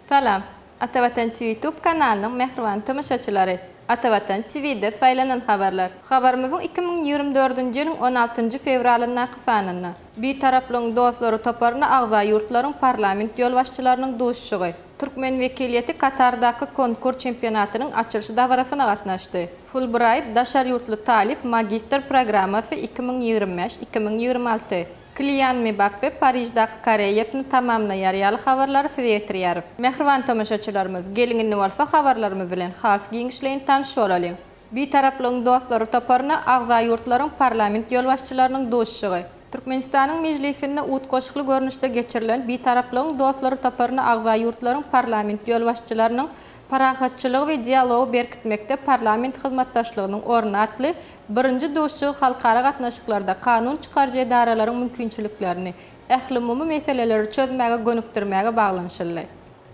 Salam! Ata Watan TV YouTube kanalynyň mähriban tomaşaçylary! Ata Watan TV-de saýlanan habarlar. Habarymyzyň iki müň ýigrimi dördünji ýylyň on altynjy fewralyndaky sanynda, Bitaraplygyň dostlary toparyna agza ýurtlaryň parlament ýolbaşçylarynyň duşuşygy, türkmen wekiliýeti Katardaky Konkur çempionatynyň açylyş dabarasyna gatnaşdy. Fulbraýt daşary ýurtly talyp magistr programmasy iki müň ýigrimi bäş, iki müň ýigrimi alty, Kylian Mbappe Pariždaky koreýasyny tamamlaýar ýaly habarlary size ýetirýäris. Mähriban tomaşaçylarymyz, geliň indi bolsa habarlarymyz bilen has giňişleýin tanyş bolalyň. Bitaraplygyň dostlary toparyna agza ýurtlaryň parlament ýolbaşçylarynyň duşuşygy. Türkmenistanyň Mejlisinde utgaşykly görnüşde geçirilen Bitaraplygyň dostlary toparyna agza ýurtlaryň parlament ýolbaşçylarynyň Parahatçylygy we dialogy berkitmekde parlament hyzmatdaşlygynyň orny atly birinji duşuşygy halkara gatnaşyklarda kanun çykaryjy edaralaryň mümkinçiliklerini ählumumy meseleleri çözmäge gönükdirmäge baglanyşyldy.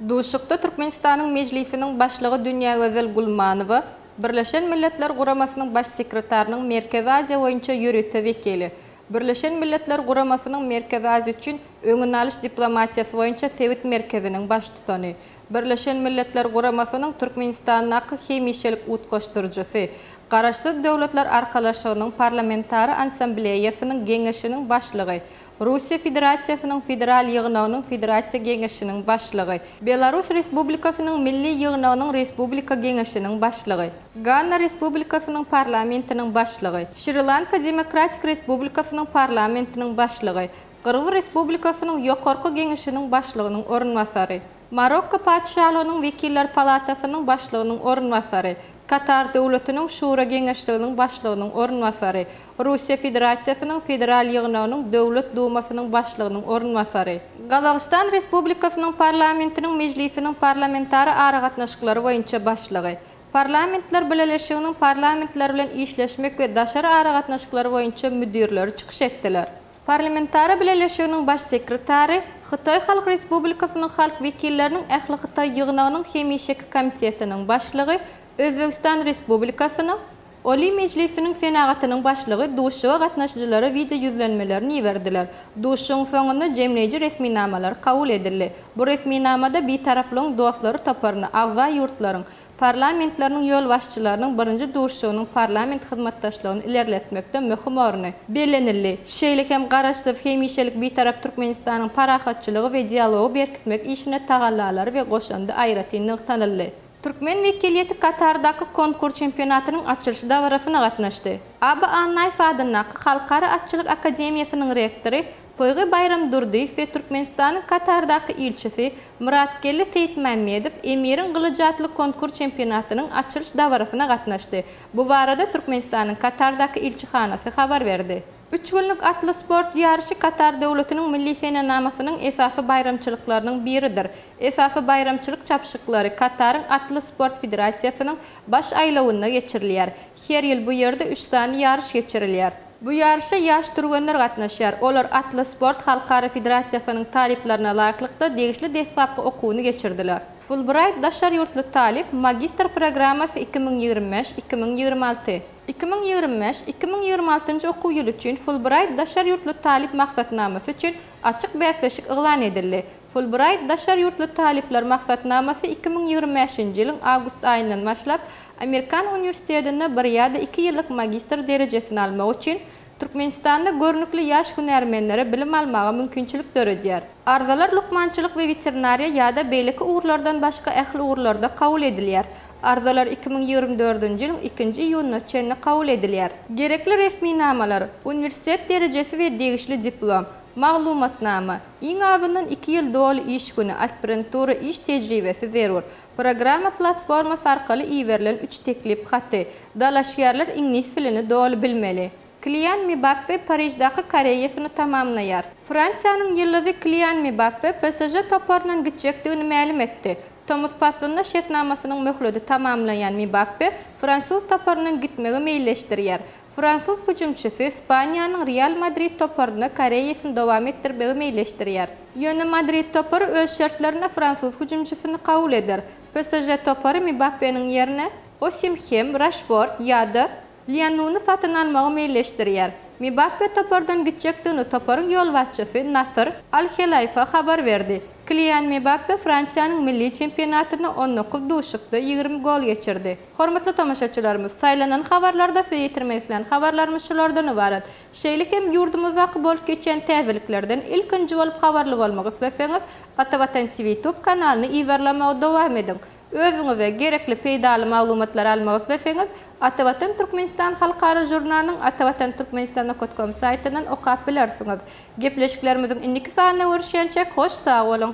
Duşuşykda Türkmenistanyň Mejlisiniň Başlygy Dünýägözel Gulmanowa, Birleşen Milletler Guramasynyň Baş sekretarynyň Merkezi Aziýa boýunça ýörite wekili, Birleşen Milletler Guramasynyň Merkezi Aziýa üçin öňüni alyş diplomatiýasy boýunça sebit merkeziniň baştutany, Birleşen Milletler Guramasynyň Türkmenistandaky hemişelik utgaşdyryjysy, Garaşsyz Döwletler Arkalaşygynyň Parlamentara Ansambleýasynyň Geňeşiniň Başlygy, Russiýa Federasiýasynyň Federal Ýygnagynyň Federasiýa Geňeşiniň Başlygy, Belarus Respublikasynyň Milli Ýygnagynyň Respublika Geňeşiniň Başlygy, Ganna Respublikasynyň Parlamentiniň Başlygy, Şri-Lanka Demokratik Respublikasynyň Parlamentiniň Başlygy, Gyrgyz Respublikasynyň Ýokarky Geňeşiniň Başlygynyň orunbasary, Marokko Patyşalygynyň Wekiller Palatasynyň Başlygynyň orunbasary, Katar Döwletiniň Şura Geňeşliginiň Başlygynyň orunbasary, Russiýa Federasiýasynyň Federal Ýygnagynyň Döwlet Dumasynyň Başlygynyň orunbasary, Gazagystan Respublikasynyň Parlamentiniň Mejlisiniň Parlamentara aragatnaşyklary boýunça başlygy, Parlamentler Bileleşiginiň Parlamentler bilen işleşmek we daşary aragatnaşyklary boýunça müdirleri çykyş etdiler. Parlamentara Bileleşiginiň Baş sekretary, Hytaý Halk Respublikasynyň Halk wekilleriniň ählihytaý ýygnagynyň hemişeki komitetiniň başlygy, Özbegistan Respublikasynyň Oliý Mejlisiniň senagatynyň başlygy duşuşyga gatnaşyjylara wideoýüzlenmelerini iberdiler. Duşuşygyň soňunda jemleýji resminamalary kabul edildi. Bu resminamada Bitaraplygyň dostlary toparyna agza ýurtlaryň Parlamentleriniň ýolbaşçylarynyň birinji duşuşygynyň parlament hyzmatdaşlygyny ilerletmekde möhüm orny bellenildi. Şeýle hem Garaşsyz, hemişelik Bitarap Türkmenistanyň parahatçylygy we dialogy berkitmek işine tagallalary we goşandy aýratyn nygtanyldy. Türkmen wekiliýeti Katardaky Konkur çempionatynyň açylyş dabarasyna gatnaşdy. Aba Annaýew adyndaky Halkara atçylyk akademiýasynyň rektory Toýga Baýram Durdyýew we Türkmenistanyň Katardaky ilçisi Myratgeldi Seýitmämmedow Emiriň gylyjy atly konkur çempionatynyň açylyş dabarasyna gatnaşdy. Bu barada Türkmenistanyň Katardaky ilçihanasy habar berdi. Üç günlük atly sport ýaryşy Katar Döwletiniň milli senenamasynyň esasy baýramçylyklarynyň biridir. Esasy baýramçylyk çapyşyklary Kataryň Atly sport federasiýasynyň baş aýlawynda geçirilýär. Her ýyl bu ýerde üç sany ýaryş geçirilýär. Bu ýaryşa ýaş türgenler gatnaşýar. Olar Atlas Sport Halkara federasiýasynyň talyplaryna laýyklykda degişli deslapky okuwyny geçirdiler. Fulbraýt daşary ýurtly talyp, magistr programmasy iki müň ýigrimi bäş, iki müň ýigrimi alty. Iki müň ýigrimi bäş, iki müň ýigrimi altynjy okuw ýyly üçin Fulbraýt daşary ýurtly talyp maksatnamasy üçin açyk bäsleşik yglan edildi. Fulbraýt daşary ýurtly talyplar maksatnamasy iki müň ýigrimi bäşinji ýylyň awgust aýyndan başlap Amerikan uniwersitetinde bir ýa-da iki ýyllyk magistr derejesini almak üçin Türkmenistanda görnükli ýaş hünärmenlere bilim almaga mümkinçilik döredýär. Arzalar lukmançylyk we weterinariýa ýa-da beýleki ugurlardan başga ähli ugurlarda kabul edilýär. Arzalar iki müň ýigrimi dördünji ýylyň ikinji iýunyna çenli kabul edilýär. Gerekli resminamalar, uniwersitet derejesi we degişli diplom, Maglumatnama, Iň azyndan iki ýyl doly iş güni, aspirantura iş tejribesi zerur. Programma platformasy arkaly iberilen üç teklip haty. Dalaşgärler iňlis dilini doly bilmeli. Kylian Mbappe Pariždaky karýeasyny tamamlaýar. Fransiýanyň ýyldyzy Kylian Mbappe PSŽ toparyndan gitjekdigini mälim etdi. Tomus paslynda şertnamasynyň möhledi tamamlanýan Mbappe fransuz toparyndan gitmegi meýilleşdirýär. Fransuz hüjümçisi Ispaniýanyň Real Madrid toparynda karýerasyny dowam etdirmegi meýilleşdirýär. Ýöne Madrid topary öz şertlerinde fransuz hüjümçisini kabul eder. PSŽ topary Mbappeniň ýerine Osimhem, Raşford ýa-da Lýanuny satyn almagy meýilleşdirýär. Mbappe topardan gitjekdigini toparyň ýolbaşçysy Nasr Al-Helaýfa habar berdi. Kilian Mbappe Fransiýanyň milli çempionatynda on dokuz duşuşykda ýigrimi gol geçirdi. Hormatly tomaşaçylarymyz, saýlanan habarlarda size ýetirmek isleýän habarlarymyz şulardan ybarat. Şeýle hem ýurdumyzdaky bolup geçýän täzeliklerden ilkinji bolup habarly bolmak isleseňiz, Ata Watan TV YouTube kanalyny yzarlamagy dowam ediň. Özüňize gerekli peýdaly maglumatlary almak isleseňiz, Ata Watan Türkmenistan halkara žurnalynyň Ata Watan Türkmenistan okat kom saýtyndan okap bilersiňiz. Gepleşiklerimiziň indiki sanynda görüşýänçäk hoş sag boluň!